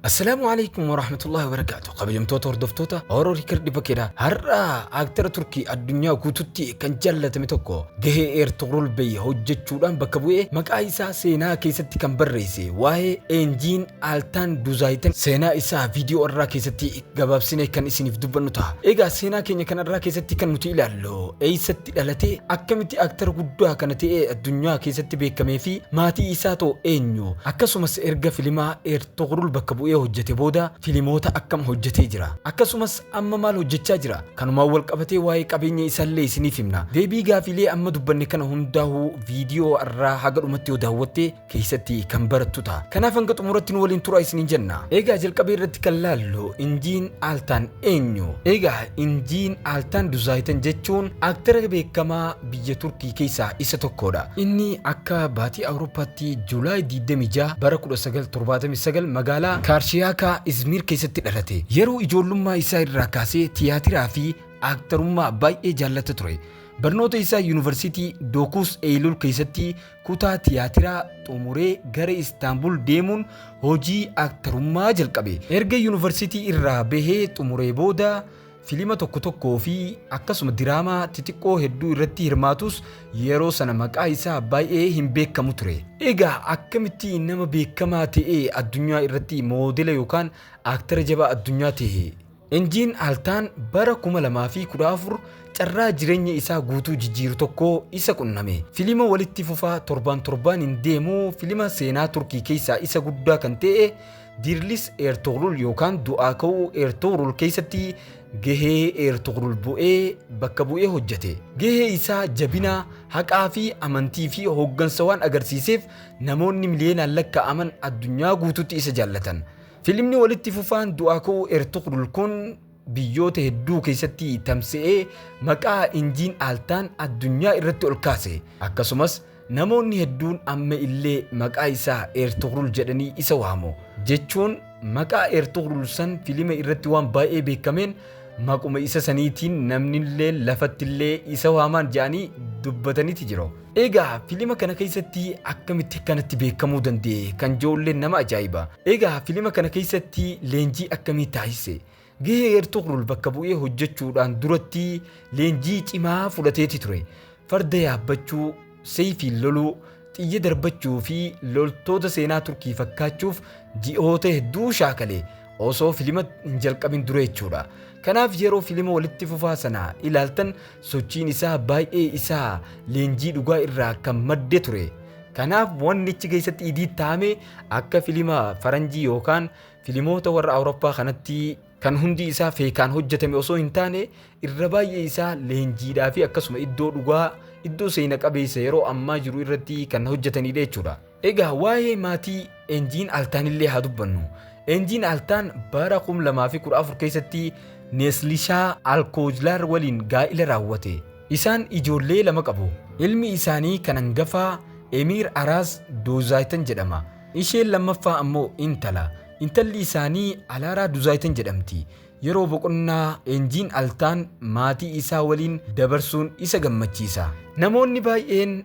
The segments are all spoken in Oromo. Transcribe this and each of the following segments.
Assalaamu alaikum warahmatullahi wabarakaatu kabajamtoota hordoftoota Oro Rikar dhibba keedha har'a aaktara Turkii addunyaa guututti kan jaallatame tokko gahee Eertugrul Bey hojjechuudhaan bakka bu'ee maqaa isaa seenaa keessatti kan barreesse waa'ee Eenjiin Aaltaan Duzaayiten seenaa isaa viidiyoo irraa keessatti gabaabsine kan isiniif dubbannu ta'a. Egaa seenaa keenya kan irraa keessatti kan nuti ilaallu eessatti itti dhalatee akkamitti actor guddaa kana ta'ee addunyaa keessatti beekamee fi maatii isaa too eenyu? Akkasumas erga filimaa Ertogrul bakka bu'ee hojjete booda filimoota akkam hojjetee jira? Akkasumas amma maal hojjechaa jira? Kanumaan wal qabatee waa'ee qabeenya isaallee isiniif himna. Deebii gaafiilee amma dubbanne kana hundaahuu viidiyoo arraa haga dhumatti yoo daawwatte, keessatti kan barattu ta'a. Kanaaf hanga xumuratti nu waliin turaa isiniin jenna. Egaa jalqabee irratti kan laallu Injiin Aaltaan eenyu? Egaa Injiin Aaltaan Duzaayitan jechuun aktara beekamaa biyya Turkii keessaa isa tokkodha. Inni akka baatii Awurooppaatti Juulaay 26 bara 1979 magaalaa Kaarshiyaaka Izmiir keessatti dhalate. Yeroo ijoollummaa isaa irraa kaasee tiyaatiraa fi aktarummaa baay'ee jaallata ture. Barnoota isaa Yuunivarsiitii Dookuus Eeyilul keessatti Kutaa tiyaatiraa xumuree gara Istaanbul deemuun hojii aktarummaa jalqabe. Erga yunivarsiitii irraa bahee xumuree booda filima tokko tokkoo fi akkasuma diraamaa xixiqqoo hedduu irratti hirmaatus yeroo sana maqaa isaa baay'ee hin beekamu ture. Egaa akkamitti nama beekamaa ta'ee addunyaa irratti moodela yookaan aktara jabaa addunyaa ta'e? Injiin Altaan bara 2014 carraa jireenya isaa guutuu jijjiiru tokko isa qunname. Filima walitti fufaa torbaan torbaaniin deemu filima seenaa Turkii keessaa isa guddaa kan ta'e Dirlis Ertugrul yookaan Du'aa Ka'uu Ertugrul keessatti gahee Ertugrul bu'ee bakka bu'ee hojjete. Gahee isaa jabina, haqaa fi amantii fi hooggansa waan agarsiiseef namoonni miliyoonaan lakkaa'aman addunyaa guutuutti isa jaallatan. Filimni walitti fufaan du'aa ka'uu Ertugrul kun biyyoota hedduu keessatti tamsa'ee maqaa Injiin Aaltaan addunyaa irratti ol kaase. Akkasumas namoonni hedduun amma illee maqaa isaa Ertugrul jedhanii isa waamu. Jechuun maqaa Ertugrul san filima irratti waan baay'ee beekameen maquma isa saniitiin namnillee lafattillee isa waamaan jedhanii dubbataniti jiru. Egaa filima kana keessatti akkamitti kanatti beekamuu danda'e kan joolleen nama ajaa'iba. Egaa filima kana keessatti leenjii akkamii taasise? Gahee Ertugrul bakka bu'ee hojjechuudhaan duratti leenjii cimaa fudhateeti ture. Farda yaabbachuu, seefiin loluu, xiyya darbachuu fi loltoota seenaa Turkii fakkaachuuf ji'oota hedduu shaakale osoo filima hin jalqabin dura jechuudha. Kanaaf yeroo filima walitti fufaa sana ilaaltan Sochiin isaa baay'ee isaa leenjii dhugaa irraa kan madde ture. Kanaaf wanni achi keessatti idiit taa'ame akka filima faranjii yookaan filimoota warra Awurooppaa kanatti kan hundi isaa feekaan hojjetame osoo hin taane irra baay'ee isaa leenjiidhaa fi akkasuma iddoo dhugaa iddoo seena qabeessa yeroo ammaa jiru irratti kan hojjetanidha jechuudha. Egaa waa'ee maatii Enjiin Altaan illee haa dubbannu. Enjiin Altaan bara 2014 keessatti Neeslishaa Alkoojlaar waliin gaa'ila raawwate. Isaan ijoollee lama qabu. Ilmi isaanii kan hangafaa Emiir Araas Duuzaaytan jedhama. Isheen lammaffaa ammoo intala. Intalli isaanii Alaaraa Duuzaaytan jedhamti. Yeroo boqonnaa Enjiin Altaan maatii isaa waliin dabarsuun isa gammachiisa. Namoonni baay'een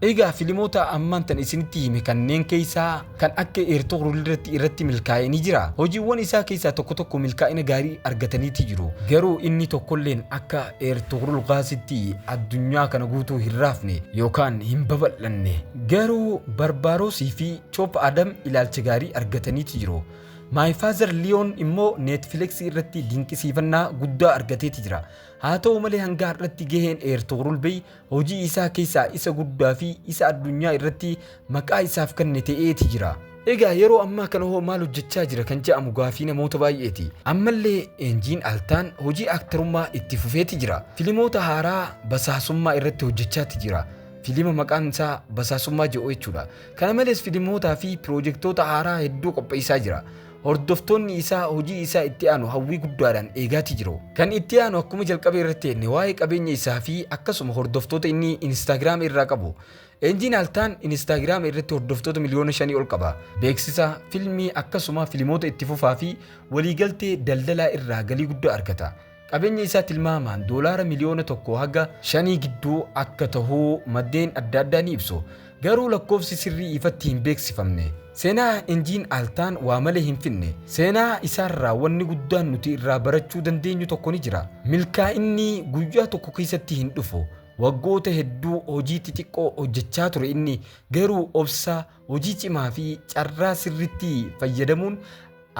Egaa filimoota ammaan tan isinitti hime kanneen keessaa kan akka Eertoqrulirratti irratti milkaa'e ni jira. Hojiiwwan isaa keessaa tokko tokko milkaa'ina gaarii argataniiti jiru. Garuu inni tokkolleen akka Eertoqrul Gaasitti addunyaa kana guutuu hin raafne yookaan hin babal'anne. Garuu Barbaaroosii fi Choop Adam ilaalcha gaarii argataniiti jiru. My Father Leon immoo Neetfileksii irratti dinqisiifannaa guddaa argateeti jira. Haa ta'u malee hanga har'atti gaheen Eertoqrul Bey hojii isaa keessaa isa guddaa fi isa addunyaa irratti maqaa isaaf kenne ta'eeti jira. Egaa yeroo ammaa kana hoo maal hojjechaa jira kan jedhamu gaafii namoota baay'eeti. Ammallee Eenjiin Altaan hojii aktarummaa itti fufeeti jira. Filimoota haaraa basaasummaa irratti hojjechaati jira. Filima maqaan isaa basaasummaa jedhu jechuudha. Kana malees filimootaa fi piroojektoota haaraa hedduu qopheessaa jira. Hordoftoonni isaa hojii isaa itti aanu hawwii guddaadhaan eegaatii jiru. Kan itti aanu akkuma jalqaba irratti jenne waa'ee qabeenya isaa fi akkasuma hordoftoota inni Instagram irraa qabu. Enjiin Altaan Instagram irratti hordoftoota miliyoona shanii ol qaba. Beeksisa, filmii akkasuma filimoota itti fufaa fi waliigaltee daldalaa irraa galii guddaa argata. Qabeenyi isaa tilmaamaan doolaara miliyoona tokkoo haga shanii gidduu akka tahu maddeen adda addaa ni ibsu. Garuu lakkoofsi sirrii ifatti hin beeksifamne. Seenaa Injiin Altaan waa malee hin fidne. Seenaa isaarraa wanni guddaan nuti irraa barachuu dandeenyu tokko ni jira. Milkaa'inni guyyaa tokko keessatti hin dhufu. Waggoota hedduu hojii xixiqqoo hojjechaa ture inni, garuu obsa, Hojii cimaa fi carraa sirriitti fayyadamuun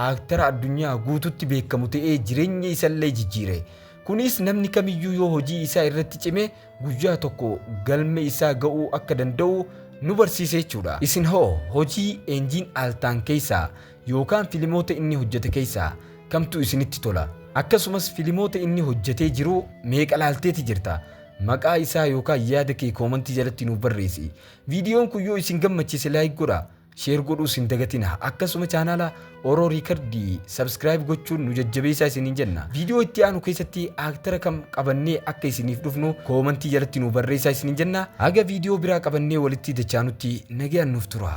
aaktara addunyaa guututti beekamu ta'ee jireenya isallee jijjiire. Kunis namni kamiyyuu yoo hojii isaa irratti cime guyyaa tokko galma isaa ga'uu akka danda'u nu barsiise jechuudha. Isin hoo hojii Enjiin Altaan keessaa yookaan filimoota inni hojjete keessaa kamtu isinitti tola? Akkasumas filimoota inni hojjetee jiru meeqa laalteeti jirta? Maqaa isaa yookaan yaada kee koomantii jalatti nuuf barreessi. Viidiyoon kun yoo isin gammachiise like godhaa, share godhuus hin dagatinaa. Akkasuma chaanaala Oro Record subscribe gochuun nu jajjabeessaa isiniin jenna. Viidiyoo itti aanu keessatti aaktara kam qabannee akka isiniif dhufnu koomantii jalatti nu barreessaa isiniin jenna. Haga viidiyoo biraa qabannee walitti dachaanutti nagayaan nuuf turaa.